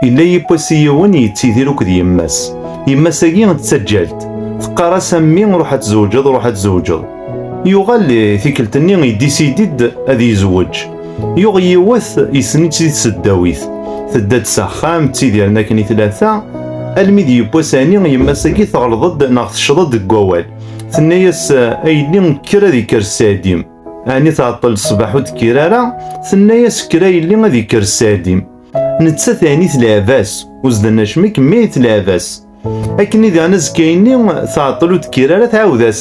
Yella yiwwas i yiwen yettidir akked yemma-s. Yemma-s-agi d taǧǧalt. Teqqar-as a mmi ruḥ ad tzewǧeḍ, ruḥ ad tzewǧeḍ. Yuɣal tikkelt-nni idisidi-d ad yezweǧ. Yuɣ yiwet yessen-itt di tseddawit. Tedda-d s axxam, ttidiren akken i tlata, almi d yiwwas ɛni yemma-s-agi teɣleḍ-d neɣ tecceḍ-d deg wawal. Tenna-yas a yelli kker ad ikker sseɛd-im. Ɛni tɛeṭṭel ṣṣbeḥ ur d-kkir ara? Tenna-yas kker a yelli ad ikker sseɛd-im. Nettat ɛni tleɛb-as, uzden acmi kemmi i tleɛb-as. Akken i daɛna azekka-inni tɛeṭṭel ur d-kkir ara tɛawed-as.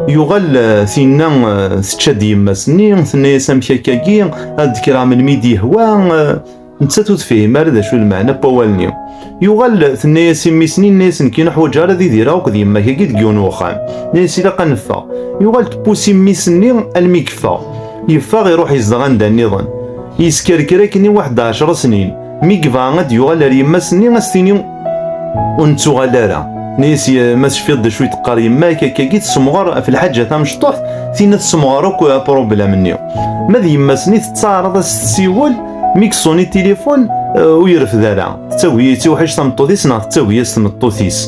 Yuɣal eh, tinna eh, tečča-d yemma-s-nni, tenna-yas amek akka-agi, ad d-kkreɣ melmi i d-yehwa. Eh, nettat ur tefhim ara d acu lmeɛna n wawal-nni. Yuɣal tenna-yas i mmi-s-nni, yenna-yas nekk neḥwaǧ ara ad idireɣ akked yemma-k-agi deg yiwen uxxam. Yenna-yas ilaq ad neffeɣ. Yuɣal tpus i mmi-s-nni almi yeffeɣ. Yeffeɣ iruḥ izdeɣ anda nniḍen. Yeskerker akken i waḥed ɛecra snin. Mi yebɣa ad d-yuɣal ar yemma-s-nni ad s-tini ur nettuɣal ara. Yenna-yas ma tecfiḍ d acu i d-teqqar yemma-k akkagi tessemɣer ɣef lḥaǧa tamecṭuḥt, tinna tessemɣer akk apṛublam-nni. Ma d yemma-s-nni tettaɛraḍ ad s-tessiwel, Mi yeṣuni tilifun uh, ur yerfed ara. Tettagi yettiwḥic tameṭṭut-is neɣ tettagi-as tmeṭṭut-is.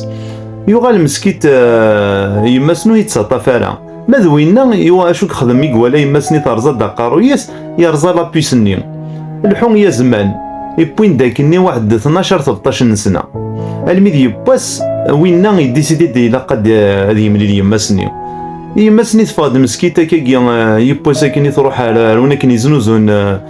Yuɣal meskit uh, yemma-s-nu yettaṭṭaf ara. Ma d winna yuɣ acu yexdem i iwala yemma-s-ni terẓa-d aqerruy-is yerẓa lapis-nni. Lḥu i azman, iwwin-d akkenni waḥd tnacar tebṭac n nesna. Almi d yewwas winna yeddisidi d ilaq ad uh, yemlil yemma-s-ni. Yemma-s-ni teffeɣ-d meskit akkagi uh, yewwas akkenni truḥ ar, ar win akken yeznuzun uh,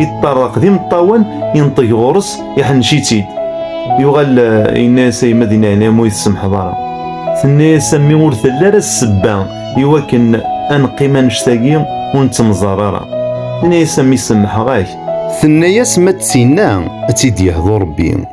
Yeṭṭerraq d imeṭṭawen, inṭeg ɣur-s, iḥennec-itt-id. Yuɣal yenna-yas a yemma di leɛnaya ur yi-tsemḥeḍ ara. Tenna-yas a mmi ur telli ara ssebba i wakken a neqqim annect-agi ur nettemẓar ara. Tenna-yas a mmi semmḥeɣ-ak. Tenna-yas ma d tinna a tt-id-yehḍu Rebbi.